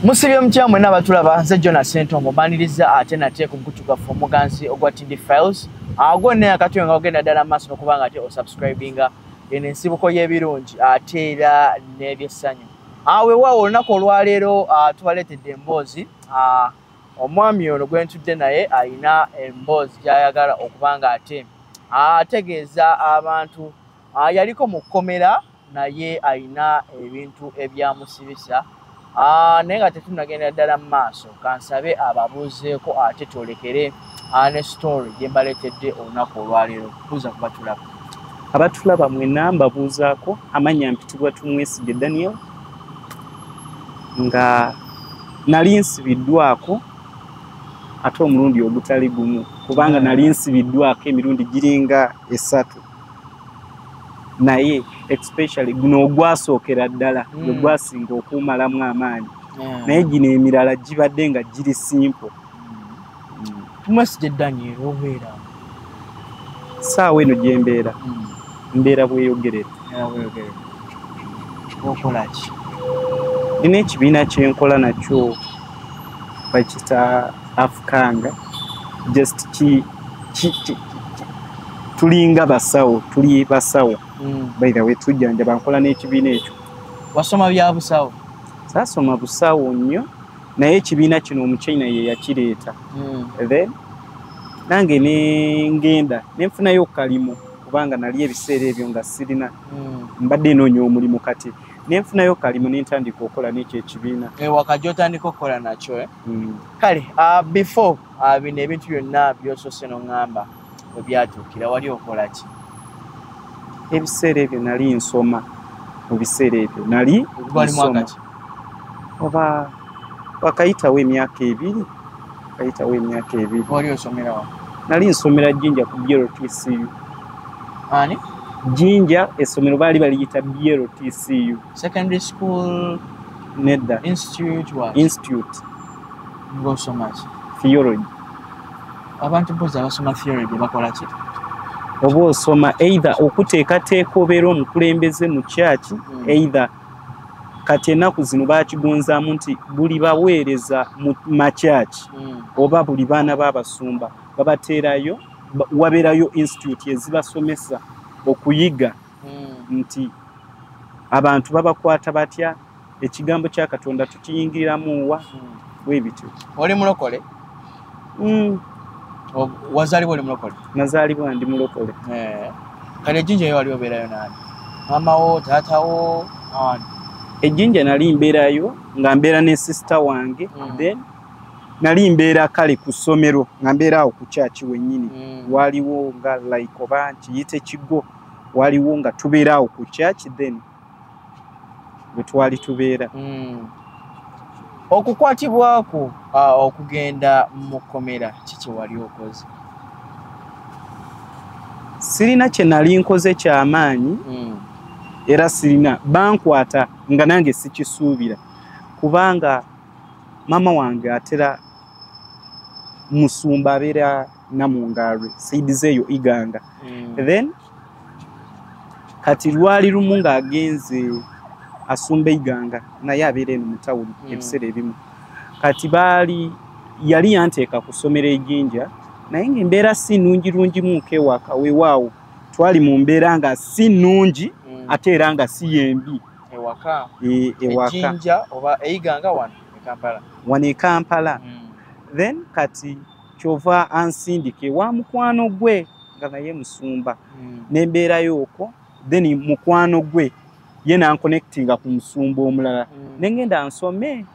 musibye mutya mwena abatulaba nze jona sentongo maniriza ate nate ku mukutu gwaffe omuganzi ogwa tindi files agwo naye akatuyo nga ogenda ddala maaso nokuba nga ate osubscribinga eno ensibuko y'ebirungi ate era n'ebyessanyu awewaawo ah, olunaku olwaleero ah, tubaleetedde emboozi ah, omwami ono gwe ntudde naye alina emboozi gy'ayagala okuba nga ate ategeeza abantu Ah, yaliko mu kkomera naye alina ebintu ebyamusibisa ah, naye nga tetunagendera ddala mu maaso kansabe ababuuzeeko ate twolekere ah, ne story gye mbaleetedde olunaku olwaleero buuza kuba tulaba abatulaba mwena mbabuuzaako amannya mpitibwa tumwesige daniel nga nali nsibiddwako ate omulundi ogutali gumu kubanga nali nsibiddwako emirundi giringa esatu naye especially guno ogwasookera ddala mm. gwe gwasinga okuumalamu amaanyi naye gino emirala gibadde nga giri simple saawa eno gyembeera mm. mbeera bweyogerera nina ekibiina kyenkola nakyo bakita afukanga just ki tulinga basawo tuli basawo mm. by the way tujanja bankola n'ekibiina ekyo wasoma bya busawo sasoma busawo nnyo naye ekibiina kino omuchina ye yakireeta mm. then nange nengenda nenfunayo okukalimu kubanga nali ebiseera ebyo nga sirina mm. mbadde enoonya omulimu kati nenfunayo kalimu nentandika okukola nekyo ekibiina ewaka eh, gyotandika okukola nakyo eh? mm. kale ah, before ah, bino ebintu byonna byosose noŋamba webyatuukira wali okola ki ebiseera ebyo nali nsoma mu biseera ebyo nali oba wakayitawo emyaka ebiri kayitawo emyaka ebiri wali osomera wa nali nsomera jinja ku bltcu ani jinja essomero baali baliyita bltcu secondary school nedda institute wa institute ngosoma ki theology abantu bozi abasoma theology bakola ki oba osoma either okuteekateeka obeera omukulembeze mu kyaki hmm. either kati enaku zino bakigonzamu nti buli baweereza mu makyaki mm. oba buli baana babasumba babateerayo wabeerayo institute ezibasomesa okuyiga mm. nti abantu babakwata batya ekigambo kya katonda tukiyingiriramuwa mm. webityo oli mulokole Mm. wazalibwa oli mulokole nazalibwa ndi mulokole eh. kale ejinja yo wali obeerayo nani mamawo taatawo ani ejinja nali mbeerayo nga mbeera ne sisita wange mm. then nali mbeera kale ku ssomero nga mbeera awo ku kyaki wennyini mm. waliwo nga like oba nkiyite kigo waliwo nga tubeera awo ku kyaki then mm. bwe twali tubeera mm. okukwatibwako uh, okugenda mu kkomera kiki wali okoze sirina kye nali nkoze kyamaanyi mm. era sirina bankwata nga nange sikisuubira kubanga maama wange atera musumba abeera namungalwe saidizeeyo iganga mm. then kati lwali lumu ng'agenze asumba eiganga naye abeera eno mu tawuni hmm. ebiseera ebimu kati baali yali yanteeka ku ssomero ejinja naye ng'embeera si nnungi lungi mu nkewaka wewaawo twali mu mbeera nga si nnungi hmm. ate era nga si yembi ewaka e, ewakaejinja oba eiganga wano ekampala wano ekampala hmm. then kati kyova ansindika ewa mukwano gwe nga naye musumba hmm. nembeerayo okwo then mukwano gwe ye nankonectinga ku musumba omulala hmm. nengenda nsome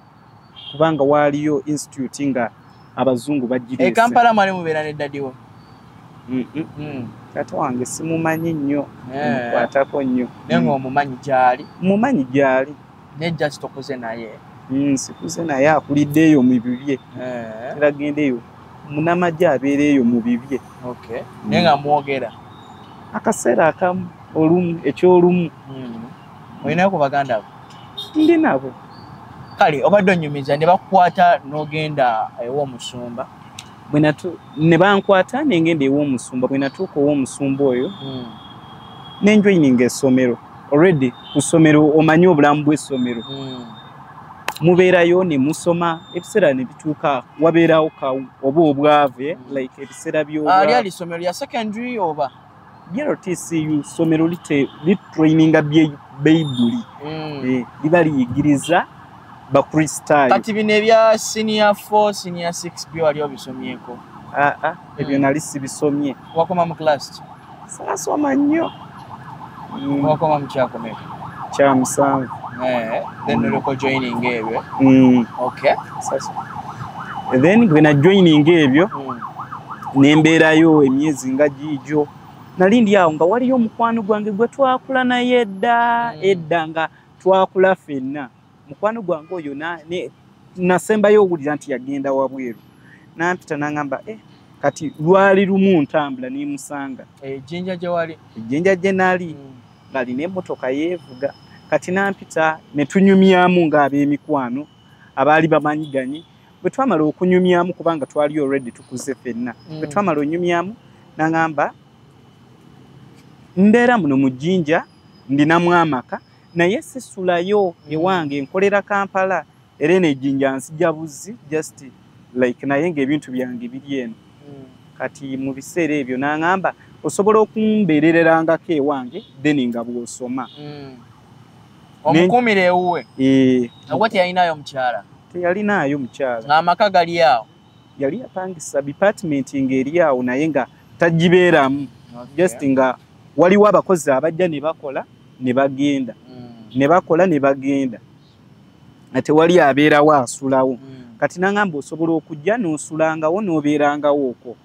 kubanga waaliyo institute nga abazungu bajjirekampala eh, mwali mubeera ne dadiwo Mm. taata wange simumanyi nnyo eh. mukwatako nnyo naye ngaomumanyi gyali mumanyi gyali ne just okuze naye mm, sikuze naye akulidde eyo mu bibye eh. era genda eyo munamagye abeera eyo mu bibye okay. mm. naye nga mwogera akaseera akamu olumu ekyolumu mm. olinayo ku baganda bo ndi nabo kale obadde onyumiza ne bakukwata n'ogenda ew'omusumba ne bankwata nengenda ew'omusumba bwe natuuka ow'omusumba oyo mm. nenjoininga essomero already ku ssomero omanyi obulamu bw'essomero hmm. mubeerayo ne musoma ebiseera ne bituuka wabeerawo ka oba obwavu eh, hmm. like ebiseera by'olyali ah, ssomero lya secondary oba yero tcu ssomero litraininga bayibuli hmm. eh, liba liyigiriza bakristaayo kati bino ebya siniya 4 siniya 6 byo wali obisomyeko aa ah, ah, ebyo hmm. nali sibisomye wakoma mu class ki saasoma nnyo hmm. wakoma mu kyakomeka kya musanvu eh, then hmm. oloko joining ebyo okay then bwe na joining ebyo nembeerayo emyezi nga giigyo nali ndi awo nga waliyo omukwano gwange gwe twakula naye edda edda nga twakula fenna mukwano gwange oyo nasembayo owulira nti yagenda wabweru nampita nangamba eh, kati lwali lumu ntambula nemusanga ejjinja eh, gyewali ejjinja gye nali hmm. ngalina emotoka yevuga kati nampita netunyumyamu ngaabemikwano abaali bamanyiganye bwe twamala okunyumyamu kubanga twali already tukuze fenna bwe mm. twamala onyumyamu nangamba mbeera muno mu jjinja ndinamu amaka naye sisulayo ewange nkolera kampala era eno ejjinja nsija buzzi just like naye ngaebintu byange biri eno hmm. kati mu biseera ebyo naŋamba osobola okumbeerererangako ewange then nga bwosoma hmm. omukumira ewuwe eh. ogwo teyalinaayo mukyala teyalinaayo mukyala ngaamaka gali awo yali apangisa department nga eri awo naye nga tagibeeramu just nga waliwo abakozi abajja ne bakola ne bagenda mm. ne bakola ne bagenda nga tewali abeerawo asulawo mm. kati nangamba osobola okujja n'osulangawo n'obeerangawo okwo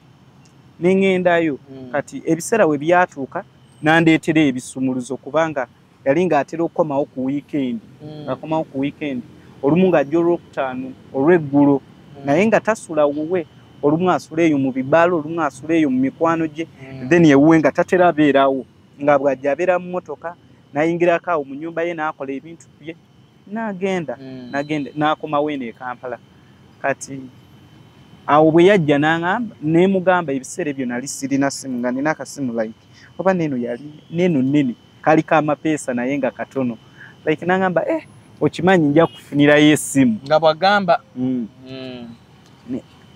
ne ŋendayo mm. kati ebiseera we byatuuka nandeetera ebisumuluzo kubanga yali ng'atera okukomawo ku wiikendi mm. ng'akomawo ku wiikendi olumu ng'ajja olwokutaano olw'eggulo mm. naye nga tasula wuwe olumu asula eyo mu bibaala olumu asula eyo mu mikwano gye mm. then ewuwe nga tatera abeerawo nga bw'ajja abeera mu mmotoka n'ayingirako awo mu nnyumba ye n'akola ebintu bye n'agenda n'agenda n'akomawo eno e kampala kati awo bwe yajja n'aŋamba neemugamba ebiseera ebyo nali sirina simu nga nina akasimu like oba neeno yali neeno nnene kaliko amapeesa naye nga katono like nangamba eh okimanyi nja kufunirayo esimu nga bwagamba mm. mm.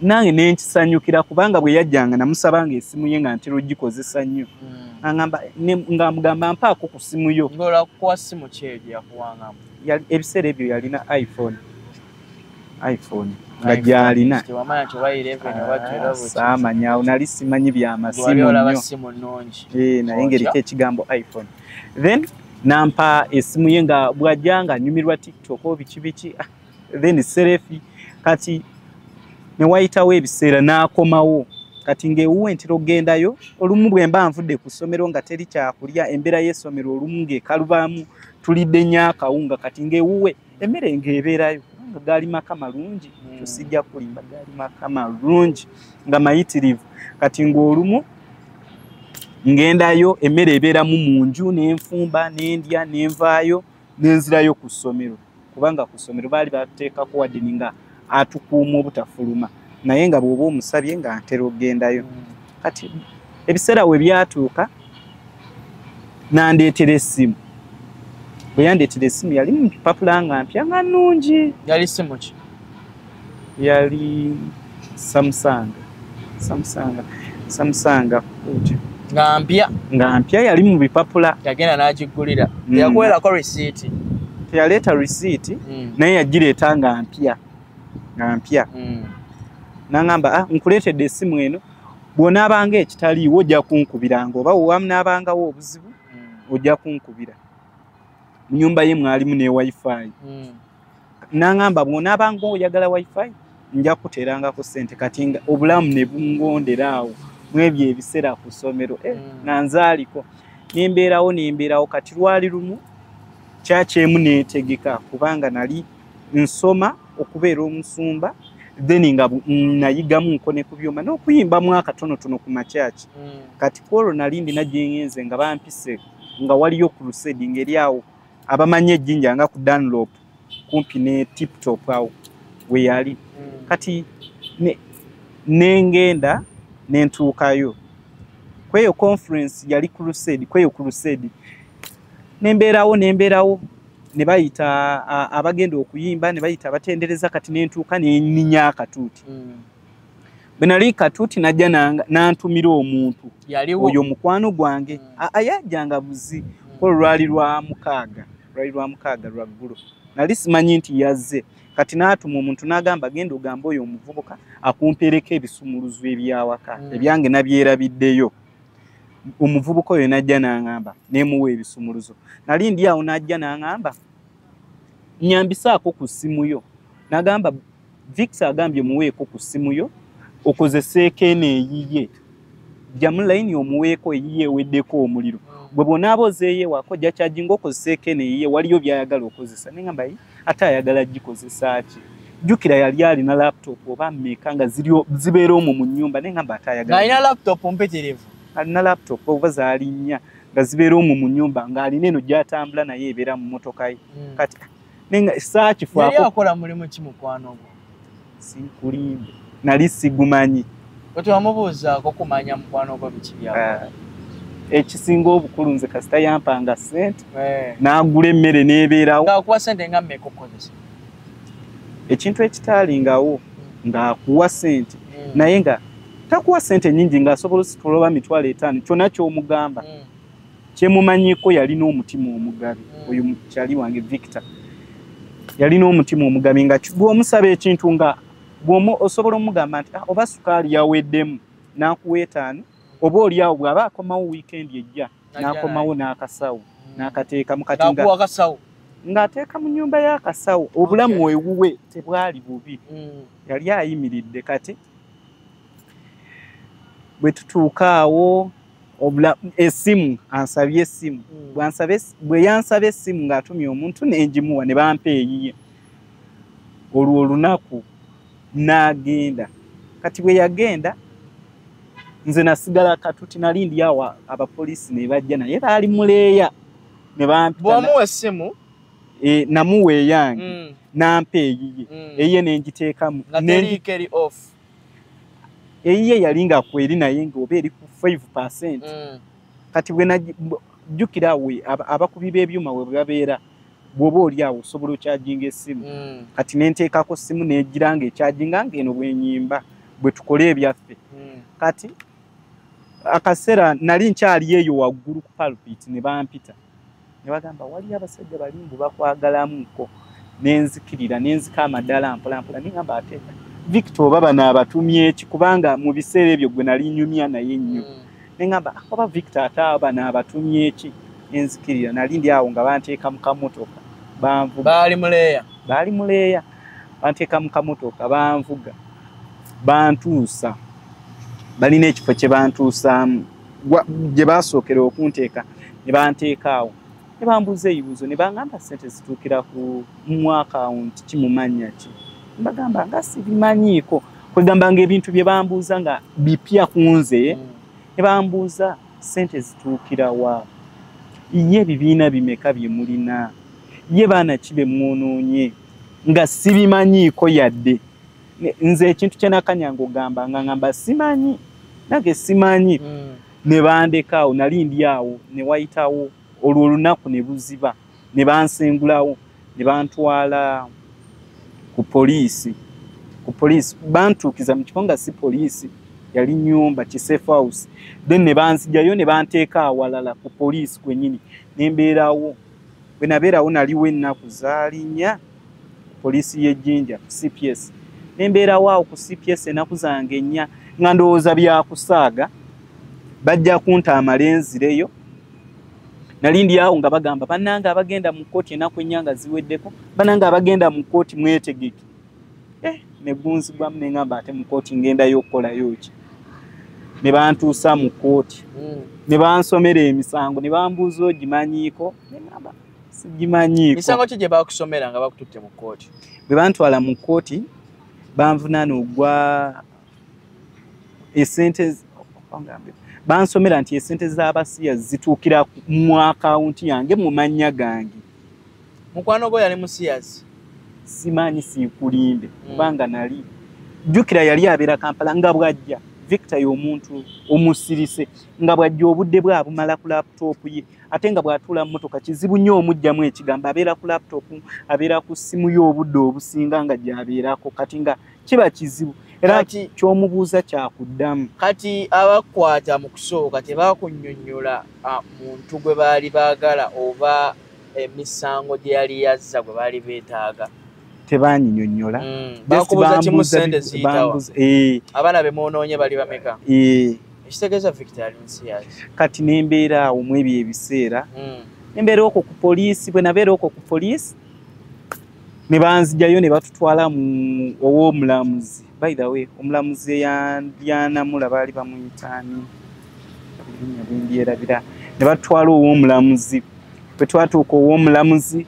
nange nenkisanyukira kubanga bwe yajjanga namusaba nga esimu ye nga ntera ogikozesa nnyo mm. angamba nga mugamba mpaako ku simu yo ebiseera ebyo yalina iphone iphone nga gyalina ah, saamanya awo nali simanyi byamasimu nyo eh, naye ngeriko ekigambo iphone then nampa esimu ye nga bwajja nga nyumirwa tiktok o biki biki ah, then serefi kati newayitawo ebiseera nakomawo kati ngaewuwe ntera okugendayo olumu bwemba nvudde ku ssomero nga teri kyakulya embeera y'essomero olumu ngaekalubaamu tulidde nyo akawunga kati ngaewuwe nga emmere ng'ebeerayo kubanga gaali maka malungi hmm. ekyo sijja kulimba gaali maka malungi nga mayitirivu kati ng'olumu ng'endayo emmere ebeeramu mu nju n'enfumba n'endya n'envaayo n'enzirayo ku ssomero kubanga ku ssomero baali bateekako wadde ninga atukuuma obutafuluma naye nga bwoba omusabye nga ntera okugendayo mm. kati ebiseera we byatuuka nandeetera esimu bwe yandeetera esimu yali mupapula nga mpya nga nnungi yali simuki yali samusanga samusanga samusanga kuja nga mpya nga mpya yali mu bipapula yagenda n'agiggulira mm. yakuwerako risiiti teyaleeta risiiti mm. naye yagireeta nga mpya nga mpya mm. nangamba ah, nkuleetedde esimu eno bw'onaabanga ekitaliiwo ojja kunkubiranga oba wewamnaabangawo obuzibu ojja kunkubira mu nyumba ye mwalimu ne wifi nangamba bwonaabanga oyagala wifi nja kuteeranga ku ssente kati nga obulamu ne bungondera awo mwebyo ebiseera ku ssomero eh, mm. nga nzaaliko nembeerawo nembeerawo kati lwali lumu kyakyemu neetegeka kubanga nali nsoma okubeera omusumba then nga nayigamu nkone ku byuma n'okuyimba mu akatonotono ku makyaki mm. kati kwolwo nali ndina gyengenze nga bampise nga waliyo ku lusedi ngeri awo abamanyi ejjinja nga ku danlop kumpi ne tiptop awo weyali hmm. kati nengenda ne nentuukayo kweyo conference yali crusade kweyo crusade nembeerawo nembeerawo ne bayita abagenda okuyimba ne bayita abatendereza kati nentuuka neninya akatuuti hmm. bwe nali katuuti najja n'antumira omuntu oyo mukwano gwange hmm. ayajjanga buzi ko lwali lwa mukaaga lwali lwa mukaaga lwa ggulo nali simanyi nti yazze kati n'atuma omuntu n'agamba genda ogamba oyo omuvubuka akumpeereko ebisumuluzo ebyawaka hmm. ebyange nabyerabiddeyo omuvubuka oyo najja n'aŋamba nemuwa ebisumuluzo nali ndi awo najja n'aŋamba nyambisaako ku ssimu yo nagamba Victor agambye muweeko ku ssimu yo okozeseeko eno eyiye jamu layini omuweeko eyiye eweddeko omuliro gwe bwonaaba ozeeyo ewako jakyagi ngaokozeseeko eno eyiye waliyo byayagala okozesa naye ngamba yi ate ayagala gikozesa ki jjukira yali alina laptop oba mmeeka nga zibeera omwo mu nnyumba naye ngamba ate ayagalaalina laptop mpitirivu alina laptop oba zaali nnya nga zibeera omwo mu nnyumba ng'alina eno gyatambula naye ebeera mu motoka ye hmm. kati nenga saakifuako yali akola mulimu ki mukwano gwo sinkulimbe nali sigumanyi kati wamubuuzaako kumanya mukwano gwo biki byakola eh. ekisinga obukulu nze kasita yampanga sente eh. nagula emmere nebeerawoakuwa sente nga mekukozesa ekintu ekitaalingawo hmm. ngaakuwa sente hmm. naye nga takuwa sente nyingi ngaasobola ositula oba mitwalo etaano kyona kyomugamba hmm. kyemumanyiko yalina omutima omugabi mm. oyo mukyali wange victor yalina omutima omugabi nga gwomusaba ekintu nga gwomu osobola omugamba nti ah, oba sukaali yaweddemu nakuwa etaano oba oliawo bwaba akomawo wiikendi ejja nakomawo n'akasawo mm. nakateekamu kati ng'ateeka mu nyumba y'akasawo obulamu ewuwe tebwali bubi mm. yali ayimiridde kati bwe tutuuka awo obula esimu ansabye esimu mm. bwansabe bweyansabe esimu ng'atumye omuntu nenjimuwa ne bampa eyiye olwo olunaku n'agenda kati bwe yagenda nze nasigala katuti nali ndi awa abapoliisi ne bajja naye baali muleeya ne bampitamuwa essimu e, namuwa eyange mm. nampa eyiye mm. eyiye nenjiteekamu eyiye yali nga kweri naye nga oba eri ku 5% mm. kati bwe najjukira we abakubi b'ebyuma we babeera bwoba oli awo osobola okyajinga essimu mm. kati nenteekako simu negira nga ekyajinga nga eno bwenyimba bwe tukole ebyaffe mm. kati akaseera nali nkyali eyo waggulu ku palpit ne bampita ne bagamba waliyo abasajja bali mbu bakwagalamuko nenzikirira nenzika amadala mpolampola nengamba ate victor oba bano abatumyeki kubanga mu biseera ebyo gwe nali nyumya naye nnyo mm. nengamba ah, oba victor ate abo bano abatumyeki nenzikirira nali ndi awo nga banteeka mu kamotoka banvuga baali muleeya baali muleeya banteeka mu kamotoka banvuga bantuusa balina ekifo kye bantuusaamu gye baasookera okunteeka ne banteekaawo ne bambuuza ebibuuzo ne bangamba ssente zituukira ku mu akawunti ki mu mannya ki mbagamba nga sibimanyiiko kwegamba nga ebintu bye bambuuza nga bipya ku nze mm. ne bambuuza ssente zituukira wa ye ebibiina bimeka bye mulina ye baana ki be mwonoonye nga sibimanyiiko yadde nze ekintu kyenakanya ngugamba nga ngamba simanyi nange simanyi mm. nebandekaawo nali ndi awo newayitawo olwo olunaku nebuziba nebansengulawo nebantwala ku poliisi ku poliisi bantuukiza mu kifo nga si poliisi yali nyumba kisafe house then nebanzijayo nebanteeka awalala ku poliisi kwenyini nembeerawo bwenabeerawo naliwo ennaku zaalinya poliisi y'e Jinja CPS ne mbeerawo awo ku CPS ennaku zange ennya nga ndowooza byakusaaga bajja kunta amalenzireyo nali ndi awo nga bagamba bannange abagenda mu kkooti ennaku ennya nga ziweddeko bannange abagenda mu kkooti mwetegeke eh, ne gunzibwamu ne ngamba ate mu kkooti ngendayo okukolayo ki ne bantuusa mu kkooti hmm. ne bansomera emisango ne bambuuza ogimanyiiko ne ngamba sigimanyiiko misango ki gye bakusomera nga bakututte mu kkooti bwe bantwala mu kkooti banvunaana ogwa esente bansomera nti esente z'abasiya zituukira mu akawunti yange mu mannya gange mukwano gwo yali musiyazi simanyi siikulimbe hmm. kubanga nali jjukira yali abeera kampala nga bwajja victor y'omuntu omusirise nga bwajja obudde bwe abumala ku laputopu ye ate nga bw'atuula mu mmotoka kizibu nnyo omugyamu ekigambo abeera ku laputopu abeera ku ssimu ye obudde obusinga nga gy'abeerako kati nga kiba kizibu era nti ky'omubuuza kyakuddamu kati abakwata mu kusooka tebakunyonyola muntu gwe baali baagala oba emisango gye yali yazza gwe baali beetaaga tebanyinyonyola mm. bakubuza kimu sente ziyitawa eh. abaana bemwonoonye bali bameka eh. ekitegeza victor ali nsi yaki kati nembeera awo mu ebyo ebiseera hmm. nembeera okwo ku poliisi bwe nabeera okwo ku poliisi ne banzijayo ne batutwala mu ow'omulamuzi by the way omulamuzi eyandianamula baali bamuyitaani ebinya bimbyerabira ne batutwala ow'omulamuzi bwe twatuuka ow'omulamuzi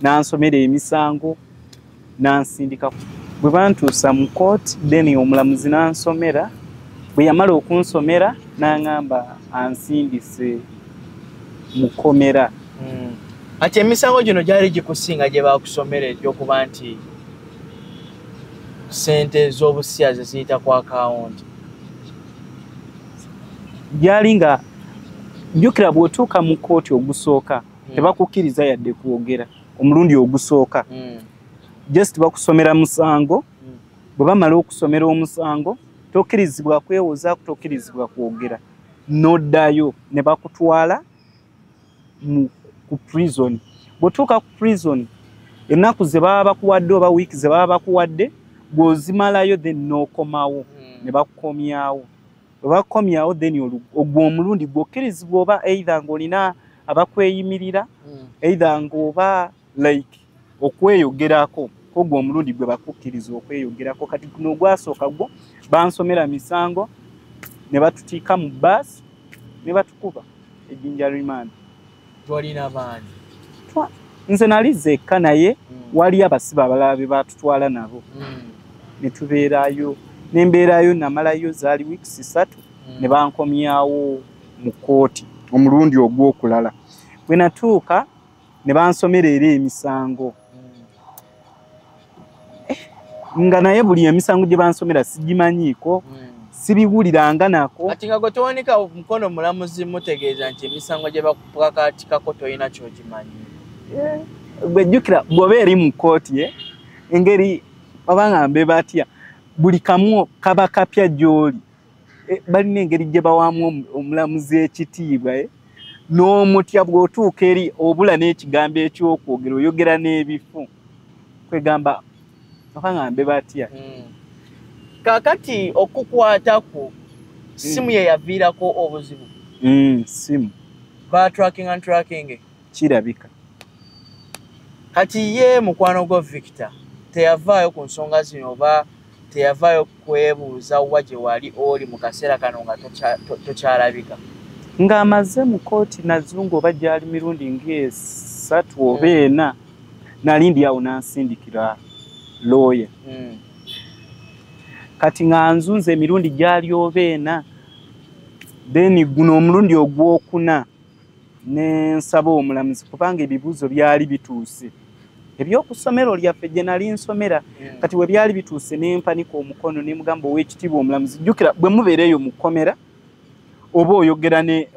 n'ansomera emisango n'ansindika bwe bantuusa mu kooti then omulamuzi n'ansomera bwe yamala okunsomera n'angamba ansindise mu kkomera hmm. ati emisango gino gyali gikusinga gye bakusomera egyokuba nti sente z'obusiya ze ziyita ku akawunti gyali nga jjukira bw'otuuka mu kkooti ogusooka hmm. tebakukkiriza yadde kwogera omulundi ogusooka mm. just bakusomera musango mm. bwe bamala okusomera omusango tokkirizibwa kwewozaako tokkirizibwa kwogera noddayo ne bakutwala ku prison bwetuuka ku prison ennaku ze baba bakuwadde oba wiiki ze baba bakuwadde bw'ozimalayo then n'okomawo mm. ne bakukomyawo webakomyawo then ogwo omulundi gwokkirizibwa oba eitha ngaolina abakweyimirira hmm. eitha ngaoba like okweyogerako kogwo omulundi gwe bakukkiriza okweyogerako kati guno ogwasooka gwo bansomera misango ne batutiika mu baasi ne batukuba ejinja remand twalina maanyi nze nali zekka naye mm. wali abasibe abalala be batutwala nabo mm. ne tubeerayo ne mbeerayo namalayo zaali wiikisi ssatu mm. ne bankomyawo mu kkooti omulundi ogw'okulala bwe natuuka ne bansomera era emisango eh, nga naye buli emisango gye bansomera sigimanyiiko hmm. sibiwuliranga nako ati nga gwetewanika mukono mulamuzi mutegeeza nti emisango gye bakupakaatikako tolina kyogimanyi eh, gwejjukira bwoba eri mu kkooti ye eh, engeri oba nga mbe batya buli kamu kaba kapya gy'oli eh, balina engeri gye bawaamu omulamuzi ekitiibwa eh? n'omutya bw'otuuka eri obula n'ekigambo eky'okwogera oyogera n'ebifu kwegamba akangambe batya hmm. kakati okukwatako simu hmm. yeyaviirako obuzibu hmm, simu batracking and tracking kirabika kati ye mukwano gwa victor teyavaayo ku nsonga zino oba teyavaayo kwebuuza wa gye wali oli mu kaseera kano nga tokyalabika ng'amaze mu kooti nazungu oba gyali mirundi ngaesatu oba hmm. ena nali ndi awo nansindikira looya hmm. kati nga nzunza emirundi gyali oba ena then guno omulundi ogwokuna ne nsaba omulamuzi kubanga ebibuuzo byali bituuse ebyokusomero lyaffe gye nali nsomera hmm. kati we byali bituuse ne mpanika omukono ne mugamba ow'ekitiibwa omulamuzi jjukira bwe mubeera eyo mu kkomera oba oyogera ne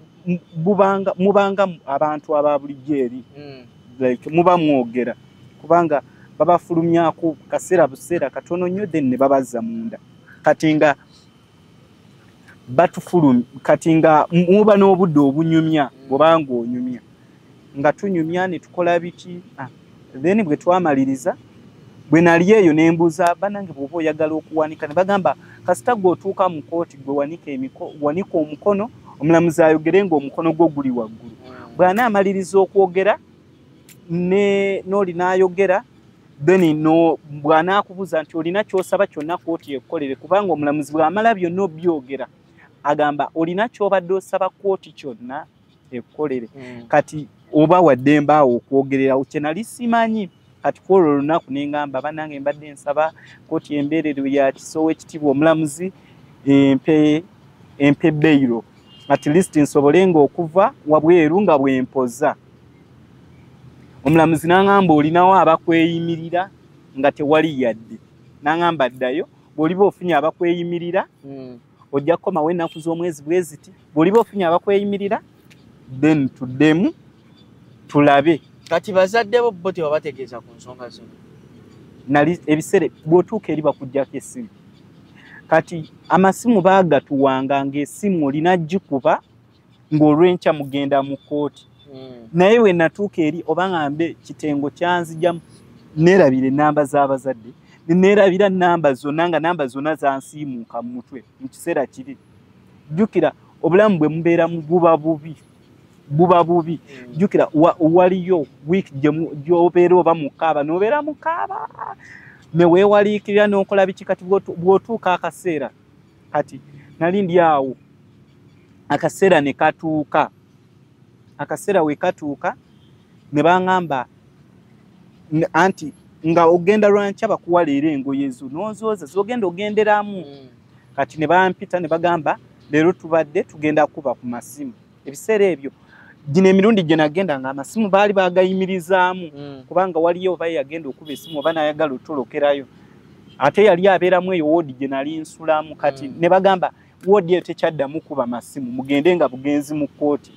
bubanga mubanga abantu aba bulijjo eri hmm. like muba mwogera kubanga babafulumyako kaseera buseera katono nnyo then ne babazza munda kati nga batufulum kati nga muba n'obudde obunyumya bwobanga onyumya nga tunyumya ne tukola biki ah, then bwe twamaliriza bwe nali eyo ne mbuuza banange bwoba oyagala okuwanika ne bagamba kasita gwe otuuka mu kooti gwe wanika omukono omulamuzi ayogere nga omukono gwo guli waggulu bw'anaamaliriza okwogera ne noli nayogera then no bwana akubuza nti olina kyosaba kyonna koti ekolere kubanga omulamuzi bwamala byonna obyogera agamba olina kyobadde osaba koti kyonna ekolere mm. kati oba waddemba awo okwogererawo kyenali simanyi kati kwolwo olunaku nengamba banange mbadde nsaba koti embeerero ya kisowo ekitiibwa omulamuzi empe empe beiro at least nsobole nga okuva wabweru nga bwempoza omulamuzi n'aŋamba olinawo abakweyimirira nga tewali yadde n'aŋamba ddayo bw'oliba ofunye abakweyimirira hmm. ojja kukomawo ennaku z'omwezi bwe ziti bw'oliba ofunye abakweyimirira then tuddemu tulabe kati bazadde bo bo tebabategeeza ku nsonga zino nali ebiseera bw'otuuka eri bakugyako essimu kati amasimu baagatuwanga ng'esimu olina gikuba ng'olwenkya mugenda mu kkooti hmm. naye we natuuka eri oba ngambe kitengo kyanzijamu neerabira ennamba z'abazadde neerabira nnamba zonna nga namba zonna zansiimuuka mu mutwe mu kiseera kiri jjukira obulamu bwe mubeera muguba bubi buba bubi mm. jukira waliyo week gyobeera oba mukaaba nobeera mukaaba newewaliikirira nokola biki kati bwotuuka akaseera kati nali ndi awo akaseera ne katuuka akaseera we katuuka ne baŋŋamba anti nga ogenda lwankya bakuwa leero engoye zo n'ozooza zogenda ogenderamu mm. kati ne bampita ne bagamba leero tubadde tugenda kuba ku masimu ebiseera ebyo gino emirundi gye nagenda nga amasimu baali bagayimirizaamu mm. kubanga waliyo oba yagenda okuba esimu oba nayagala otolokerayo ate yali abeeramu eyo woodi gye nali nsulamu kati mm. ne bagamba woodi eyo tekyaddamu kuba masimu mugende nga bugenzi mu kkooti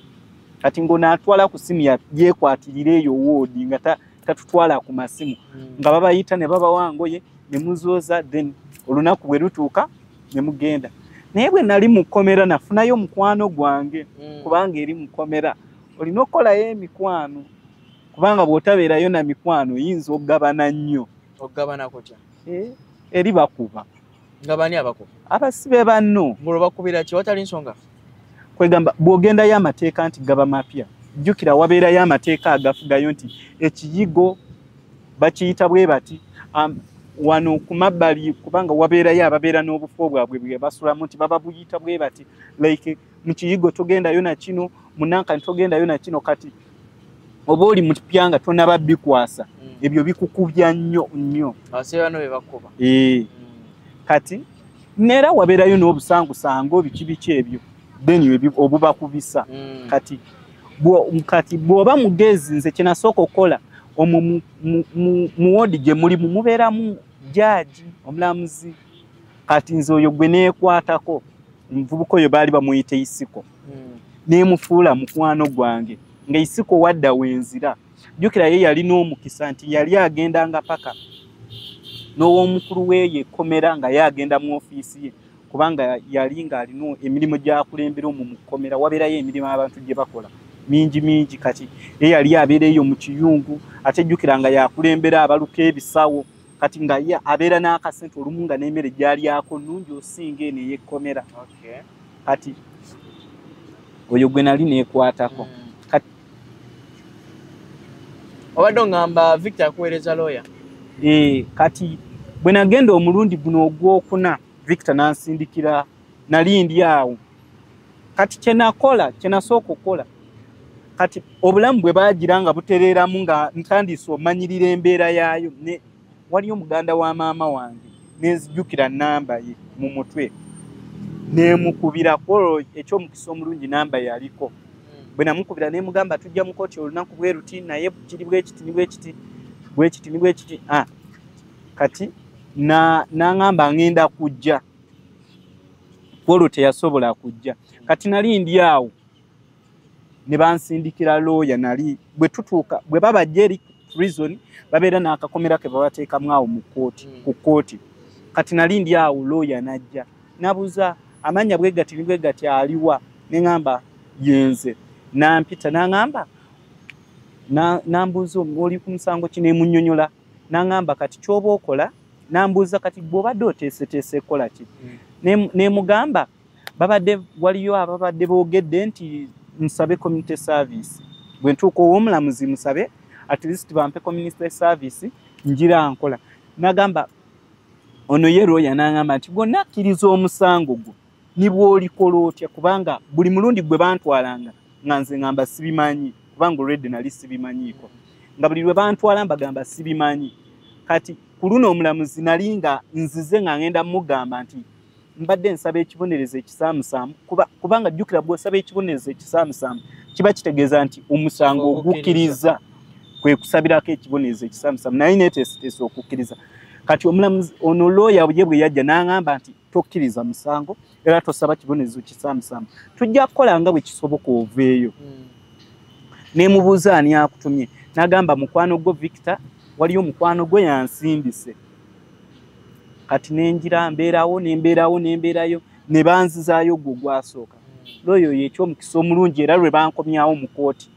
kati ngonaatwala ku simu yekwatirira eyo woodi nga tatutwala ku masimu mm. nga babayita ne babawangoye ne muzooza then olunaku bwe lutuuka ne mugenda naye bwe nali mu kkomera nafunayo mukwano gwange mm. kubanga eri mu kkomera olina okukolayo emikwano kubanga bw'otabeerayo na mikwano oyinza okugabana nnyo okugabana kutya eh, eri bakuba nga bani abakuba abasibe banno ngolo bakubira ki watali nsonga kwegamba bw'ogendayo amateeka nti gaba mapya jjukira wabeerayo amateeka agafugayo nti ekiyigo bakiyita bwe bati um, wano ku mabbali kubanga wabeerayo ababeera n'obufo bwabwe bwe basulamu nti baba buyita bwe bati like mu kiyigo togendayo na kino munankani togendayo na kino kati oba oli mutupya nga tonaba bikwasa mm. ebyo bikukubya nnyo nnyo eh. mm. kati neera wabeerayo n'obusangusango biki biki ebyo then obubakubisa mm. kati kati bwoba mugezi nze kyenasooka okukola omwo muwodi gye muli mumubeeramu jaaji omulamuzi kati nze oyo gwe neekwatako omuvubuka oyo baali bamuyita isiko hmm. neemufuula mukwano gwange nga isiko wadda wenzira jjukira ye yali n'omukisa nti yali agendanga paka n'ow'omukulu weeyo ekkomera nga ye agenda mu ofiisi ye kubanga yali nga alina emirimu gyakulembera omu mukomera wabeerayo emirimu abantu gye bakola mingi mingi kati ye yali abeera eyo mu kiyungu ate jjukira nga yakulembera abaluka ebisawo kati nga ye abeera n'akasente olumu nga n'emere gyalyako nungi osinga eno eyekkomera kati oyo gwe nali neekwatako mm. obadde ongamba victor akuweereza looya eh, kati bwe nagenda omulundi guno ogwokuna victor nansindikira nali ndi awo kati kyenakola kyenasooka okukola kati obulamu bwe bagira nga butereeramu nga ntandise omanyirira embeera yaayo ne waliyo muganda wa maama wange nenzijukira namba ye mu mutwe nemukubira kwolwo ekyomukisa omulungi namba yaliko hmm. bwe namukubira nemugamba tujja mukoti olunaku bweruti naye kiri bwekiti nibwekiti bwekiti nibwekiti ah, kati naŋamba na ŋenda kujja kwolwo teyasobola kujja kati nali ndi awo ne bansindikira looya nali bwe tutuuka bwe babajja eri prison babeera n'akakomera ke babateekamu awo mu kkooti hmm. ku kkooti kati nali ndi awo looya najja nabuza amannya bwe gati ni bwe gati aliwa ne ŋamba yenze nampita naŋamba nambuuza oli ku musango kinemunyonyola n'aŋamba kati ky'oba okola n'ambuuza kati bw'obadde oteeseteese kukola ki hmm. nemugamba babadde waliyo ababadde boogedde nti musabe community service bwe ntuuka ow'omulamuzi musabe at least bampe community service njira nkola nagamba ono ye lwoya n'aŋamba nti gonna akkiriza omusango gwo ne bw'olikola otya kubanga buli mulundi gwe bantwalanga nga nze ngamba sibimanyi kubanga olwedde nali sibimanyiiko nga buli lwe bantwala mbagamba sibimanyi kati ku luno omulamuzi nali nga nzize nga ngenda mugamba nti mbadde nsaba ekibonerezo ekisaamusaamu kubanga jjukira bw'osaba ekibonerezo ekisaamusaamu kiba kitegeeza nti omusango ogukkiriza kwe kusabirako ekibonerezo ekisaamusaamu naye neteeseteesa okukkiriza kati omulamuzi ono looya ye bwe yajja n'aŋamba nti tokkiriza musango era tosaba kibonerezo kisamusamu tujja kukola nga bwe kisoboka oveeyo hmm. nemubuuza ani akutumye nagamba mukwano gwo victor waliyo mukwano gwe yansimbise kati nenjira mbeerawo nembeerawo nembeerayo nebanzizaayo gwo gwasooka hmm. looyo yekyomukisa omulungi era lwe bankomyawo mu kooti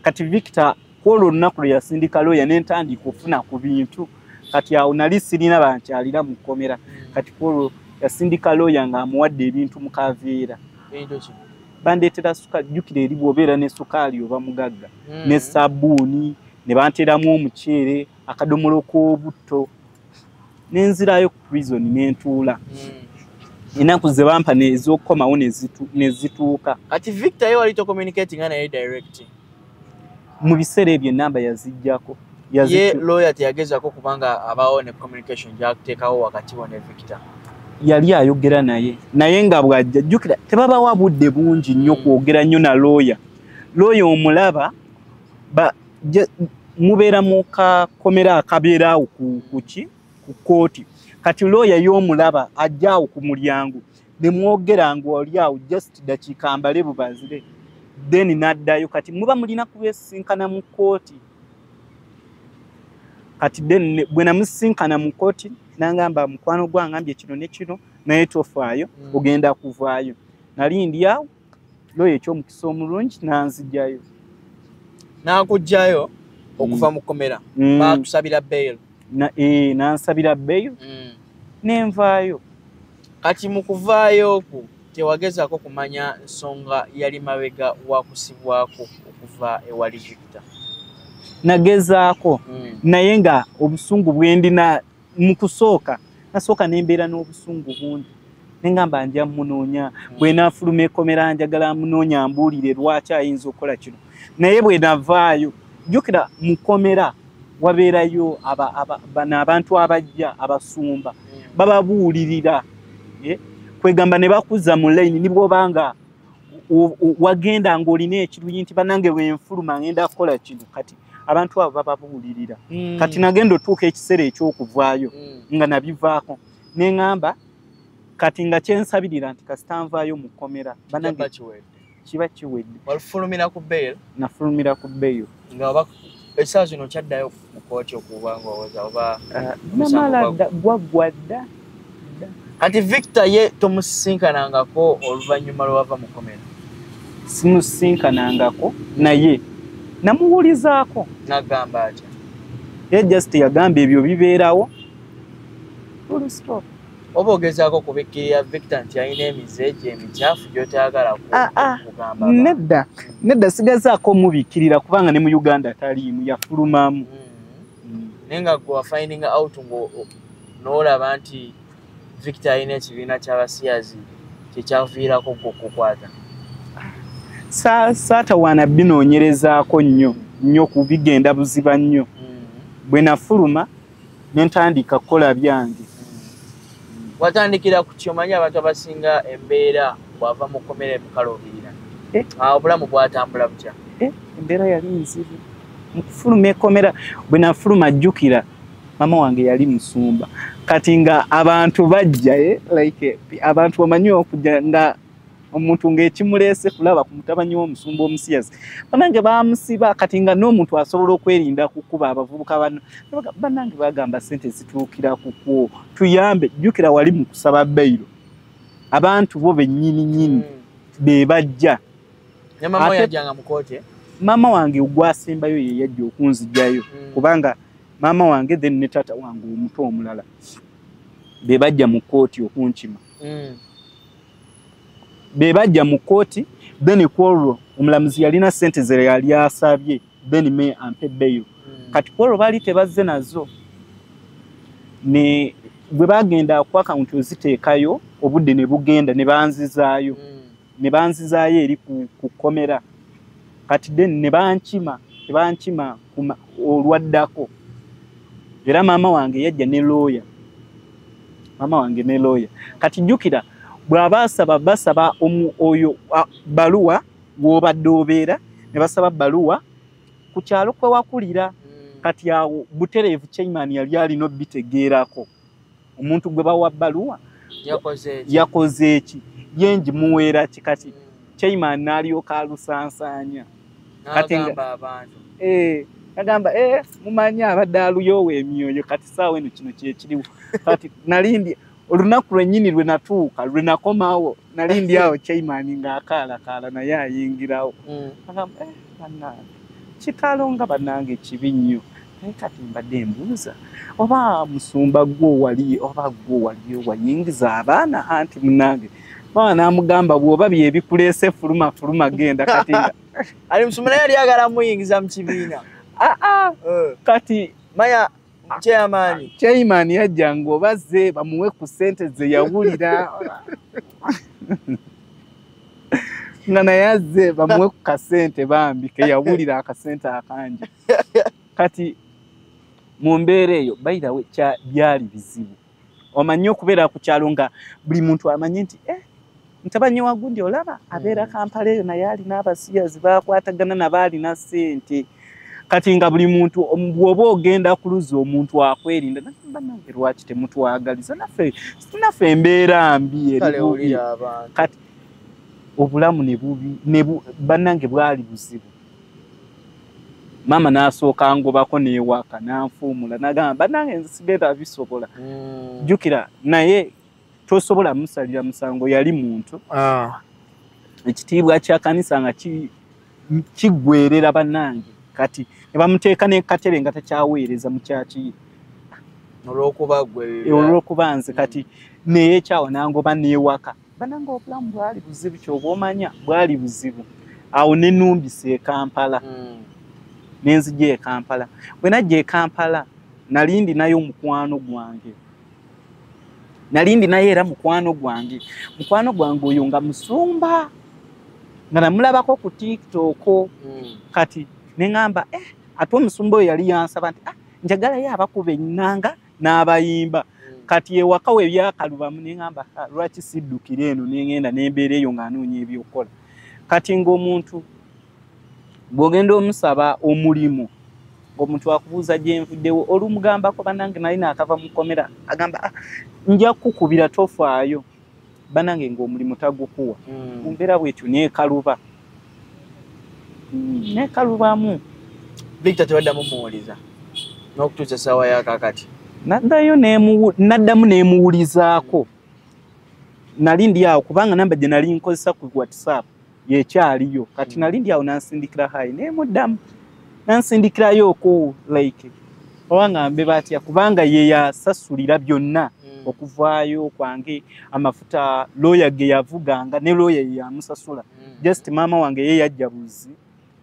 kati victor kwolwo olunaku lwe yasindika looya ne ntandika okufuna ku bintu kati awo nali sirina bankyalira mu kkomera kati kwolwo yasindika looya ng'amuwadde ebintu mu kaveera bandeetera sukaali jjukira eri bwobeera ne sukaali oba mugagga hmm. ne sabuuni ne banteeramu omuceere akadomola ok'obutto nenzirayo ku prison nentuula hmm. enaku ze bampa nezokukomawo nezituuka kati victor ye wali tocommunicating naye direct mu biseera ebyo enamba yazijjako ye lawyer teyagezako kubanga abawo ne communication gyakuteekawo wakati wo ne victor yali ayogera naye naye nga bwajja jjukira tebabawa budde bungi nnyo hmm. kwogera nnyo na lawyer lawyer omulaba mubeera mu kakomera akabeera awo kuki ku kooti kati looya y'omulaba ajja awo ku mulyango ne mwogera nga oli awo just dakiika mbale bubanzire then n'addayo kati muba mulina kubesinkana mu kooti kati then bwe namusinkana mu kooti nangamba mukwano gwangambye kino ne kino naye tofaayo mm. ogenda kuvaayo nali ndi awo looya ekyomukisa omulungi nanzijayo nakujjayo okuva mm. mu kkomera mm. batusabira bail eh, nansabira bail mm. nenvaayo kati mu kuvaayo okwo tewagezaako kumanya nsonga yali mabega wakusibwako okuva ewali jupita nagezaako naye nga obusungu bwendina mu kusooka nasooka ne mbeera n'obusungu bungi ne ngamba nja munoonya hmm. bwe naafuluma ekomera njagala munoonya mbuulire lwaki ayinza okukola kino naye bwe navaayo jjukira mu komera wabeerayo bano abantu abajja abasumba hmm. bababuulirira eh? kwegamba ne bakuza mu layini nibwobanga wagenda ng'olina ekiruyi nti banange wenfuluma ngenda kukola kino kati abantu abo bababuulirira mm. kati nagenda otuuka ekiseera ekyokuvaayo mm. nga nabivaako neŋamba kati nga kyensabirira nti kasita nvaayo mu kkomera banange kiba kiwedde nafulumira ku bail nga oba ekisaa zino kyaddayo mu kooti okuba nga owoza oba ah, namala dda gwaggwa dda anti victor ye tomusisinkanangako oluvannyuma lwewava mu komera simusisinkanangako naye namuwulizaako nagamba atya ye just yagamba ebyo bibeerawo oba ogezaako kubikkirira victor nti alina emize egyo emikyafu gyotayagala ah, ah. kugamba nedda nedda sigazaako omubikkirira kubanga ne mu uganda taliimu yafulumamu mm. mm. naye nga gwe wafinding out nga n'olaba nti victor alina ekibiina ky'abasiyazi kyekyaviirako gwe okukwata saatawaana binoonyerezaako nnyo nnyo kubigenda buziba nnyo mm. bwe nafuluma nentandika kukola byange watandikira ku kyomanyi abantu abasinga embeera bwava mu kkomera emukalubirira eh? ah, obulamu bwatambula butya eh, embeera yali nzibu mukufuluma ekkomera bwe nafuluma jjukira mama wange yali musumba kati nga abantu bajja eh, like abantu bamanyi okujja nga omuntu ng'ekimuleese kulaba ku mutabanyi w'omusumba omusiyazi banange bamusiba kati nga n'omuntu asobola okwerinda kukuba abavubuka bano banange bagamba sente zituukira kukwo tuyambe jjukira wali mu kusaba beyiro abantu bo bennyini nyini hmm. be bajja maama wange ogwasembayo ye yajja okunzijayo hmm. kubanga maama wange then ne taata wange omuto omulala be bajja mu kkooti okunkima mm. bebajja mu kooti then kwolwo omulamuzi yalina sente ze yali asabye then me ampe beyo mm. kati kwolwo baali tebazze nazo ne bwe bagenda ku akawunti oziteekayo obudde ne bugenda ne banzizaayo mm. ne banzizaayo eri ku kkomera kati then ne bankima ne bankima olwaddako era maama wange yajja ne looya maama wange ne looya kati jjukira bw'aba asaba basaba oyo baluwa w'obadde obeera ne basaba baluwa ku kyalo kwe wakulira hmm. kati awo butereevu chairman yali alina obitegeerako omuntu gwe bawa baluwa yakoze eki yenji muwera kikati chaima nalyoka alusansanya kati abantu eh agamba eh mumanyi abadde aluyoowa emyoyo kati saawa eno kino kyekiriwo kati nalimbye olunaku lwenyini lwenatuuka lwenakomawo nali ndi awo chairman ng'akaalakaala naye ayingirawo mm. agamba eh, banange kitalo nga banange kibi nnyo naye kati mbadde mbuuza oba musumba gwo wali oba gwo wali wayingiza abaana anti munange baba namugamba bwoba byebikuleese fuluma fuluma genda kati ali musumba naye yali agala muyingiza mu kibiina aa ah, ah. eh. kati maya chairman yajja ng'obaze bamuwe ku sente ze yawulira nga naye azze bamuwe ku kasente bambi keyawulira akasente akangi kati mu mbeera eyo bayirawe byali bizibu omanyi okubeera ku kyalo nga buli muntu amanyi nti eh, ntabanye wagundi olaba abeera mm. kampala eyo naye alina abasiyazi bakwatagana naba alina sente kati nga buli muntu bwoba ogenda kuluza omuntu akwerinda banange lwaki temutwagaliza naffe naffe embeera mbi erikati obulamu nebubi banange bwali buzibu maama n'asooka ngobako n'ewaaka n'anfuumula nagamba banange nze sigenda bisobola mm. jjukira naye tosobola musalira musango yali muntu ah. ekitiibwa kya kanisa nga kiggwerera banange kati ne bamuteeka nekatebe nga takyaweereza mukyakiye olwokuba nze kati neyekyawo nangoba newaka bananga obulamu bwali buzibu kyoba omanya bwali buzibu awo nenumbisa ekampala mm. nenzija ekampala bwenajja ekampala nali ndinayo omukwano gwange nali ndinayo era mukwano gwange mukwano gwange oyo nga musumba nga namulabako ku tiktok mm. kati neŋamba eh, ate omusumba oyo yali yansaba nti ah, njagalayo abakuba enanga n'abayimba mm. kati ewaka we byakalubamu nengamba ah, lwaki siddukira eno nengenda nembeera eyo ng'anoonya ebyokukola kati ng'omuntu bw'ogenda omusaba omulimu ng'omuntu akubuuza gyenvuddewo olumugambako banange nali naakava mu kkomera agamba ah, nja kukukubira tofaayo banange ng'omulimu tagukuwa mm. mumbeera bwetyo nekaluba mm. nekalubamu victor tebaddamu muwuliza n'okutuusa essaawa yakakati naddayo naddamu nemuwulizaako nali ndi awo kubanga namba gye nali nkozesa ku whatsapp yekyaliyo kati nali ndi awo nansindikira hayi naye muddamu nansindikirayooko like oba ngambe batya kubanga yeyasasulira byonna hmm. okuvaayo kwange amafuta looya ge yavuganga ne looya yeyamusasula hmm. just maama wange ye yajja buzi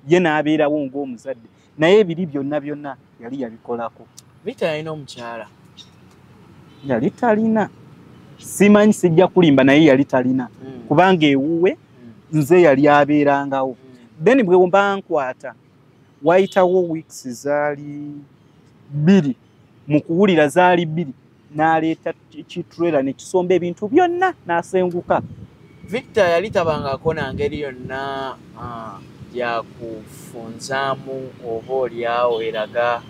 ye n'abeerawo ng'omuzadde naye ebiri byonna byonna yali yabikolako rita yalina omukyala yali talina simanyi sijja kulimba naye yali talina hmm. kubanga ewuwe hmm. nze yali abeerangawo hmm. then bwewmba nkwata wayitawo weeks zaali bbiri mu kuwulira zaali bbiri n'aleeta kitrela ne kisomba ebintu byonna n'asenguka victor yali tabangako na ngeri yonna ah, yakufunzaamu oba olyawo eraga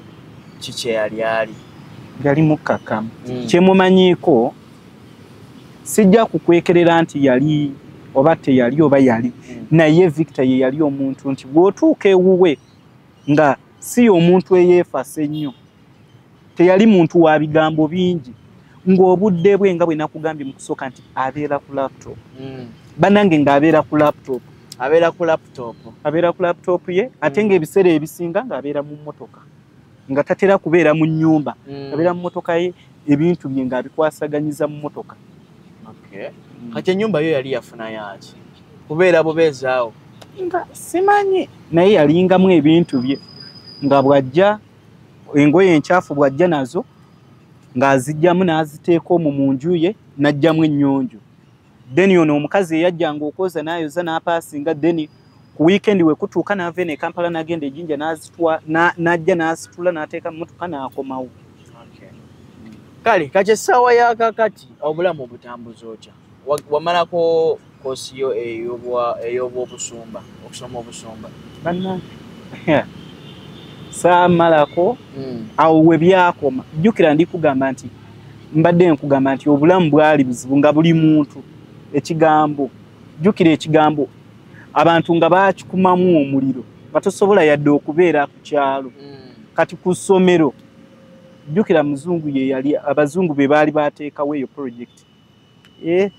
ki kyeyali ali yali mukkakkamu hmm. kyemumanyiiko sijja kukwekerera nti yali oba teyali oba yali hmm. naye victor ye yali omuntu nti bw'otuuka ewuwe nga si y'omuntu eyeefasa ennyo teyali muntu wa bigambo bingi ng'obudde bwe nga bwe nakugambye mu kusooka nti abeera ku laptop hmm. bannange ng'abeera ku laptop abeera ku laptop abeera ku laptop ye ate hmm. ng'ebiseera ebisinga ng'abeera mu mmotoka nga tatera kubeera mu nnyumba hmm. abeera mu mmotoka ye ebintu bye ng'abikwasaganyiza mu mmotoka okay. mm. kati enyumba yo yali yafuna yaki kubeera bubeezaawo nga simanyi naye yalingamu ebintu bye nga bwajja engoye enkyafu bwajja nazo ng'azijjamu n'aziteeka omu mu nju ye n'ajjamu ennyonjo then ono omukazi eyajjanga okwoza n'ayoza n'apaasinga then ku weekend we kutuuka n'ava eno e kampala n'agenda ejinja n'azitwa n'ajja n'asitula n'ateeka mu motoka n'akomawo kale kati essaawa ya kakati obulamu obutambuza otya wamalako kosi yo ey'obwobusumba okusoma obusumba banna saamalako hmm. awo we byakoma jjukira ndi kugamba nti mbadde nkugamba nti obulamu bwali buzibu nga buli muntu ekigambo jjukira ekigambo abantu nga bakikumamu omuliro nga tosobola yadde okubeera ku kyalo mm. kati ku ssomero jjukira muzungu ye yali abazungu be baali bateekawo eyo projekiti eh,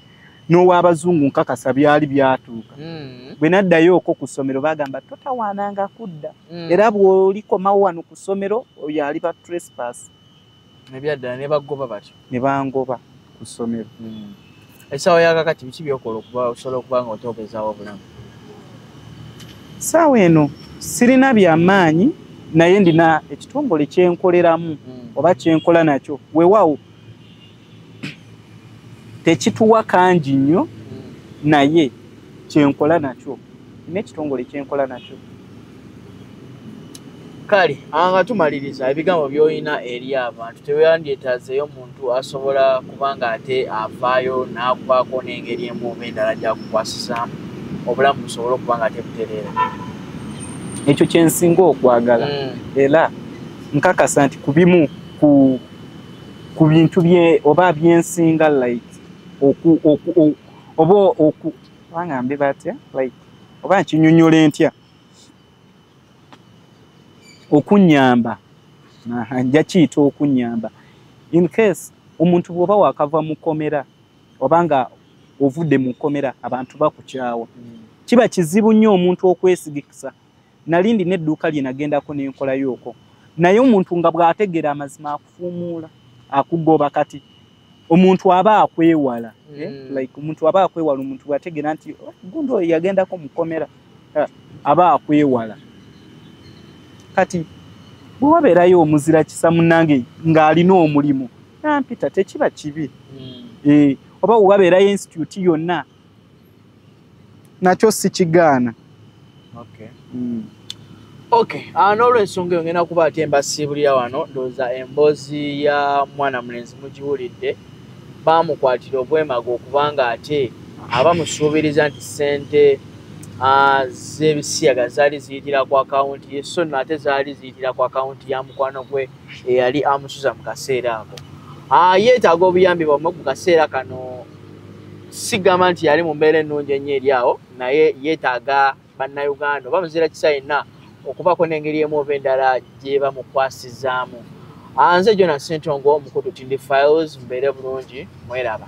n'owabazungu nkakasa byali byatuuka mm. bwe naddayo oko ku ssomero bagamba totawaananga kudda mm. era bw'olikomawo wano ku ssomero oyo aliba trespass nebyaddala nebagoba batyo nebangoba ku ssomero hmm. esaawa yakakati biki byokola okuba osobola okuba nga oteobezaawo obulamu saawa eno sirina byamaanyi naye ndina ekitongole kyenkoleramu hmm. oba kyenkola nakyo wewawo tekituwa kangi nnyo hmm. naye kyenkola nakyo nina ekitongole kyenkola nakyo kale anga tumaliriza ebigambo byolina eri abantu teweyandyetazeeyo omuntu asobola kuba nga ate avaayo n'akwako n'engeri emuuba endala gyakukwasizaamu obulamu busobole okuba nga tebutereera ekyo kyensinga okwagala mm. era nkakasa nti ku bimu ku bintu oba byensinga like oba kubanga mbi batya like oba nkinyonyola entya okunyamba nja kiyita okunyamba in case omuntu bwoba wakava mu kkomera oba nga ovudde mu kkomera abantu bakukyawa mm. kiba kizibu nnyo omuntu okwesigikisa nali ndina edduuka lye nagendako nenkolayoko naye omuntu nga bw'ategeera amazima akufuumuula akugoba kati omuntu aba akwewala mm. eh? Hmm. like omuntu aba akwewala omuntu bwategeera nti oh, gundi oyo yagendako mukomera eh, aba akwewala kati bwewabeerayo omuzira kisa munange ng'alina omulimu nampita tekiba kibi mm. eh, oba wewabeerayo institute yonna nakyo sikigaana okay. mm. okay. uh, n'olwensonga eyo ngenda kuba ate embasiibulira wano ndowooza emboozi ya mwana mulenzi mugiwulidde baamukwatira obwemaga okubanga ate aba musuubiriza nti ssente uh, z'ebisiyaga zaali ziyitira ku akawunti ye so no ate zaali ziyitira ku akawunti ya mukwano gwe eyali amusuza mu kaseera ako uh, yeetaaga obuyambi bwamwe ku kaseera kano sigamba nti yali mu mbeera ennungi ennyo eri awo naye yeetaaga bannayuganda oba muzira kisa yenna okubaako n'engeri emu oba endala gyebamukwasizaamu ah, nze jona sentongo omukutu tindi files mbeere bulungi mweraba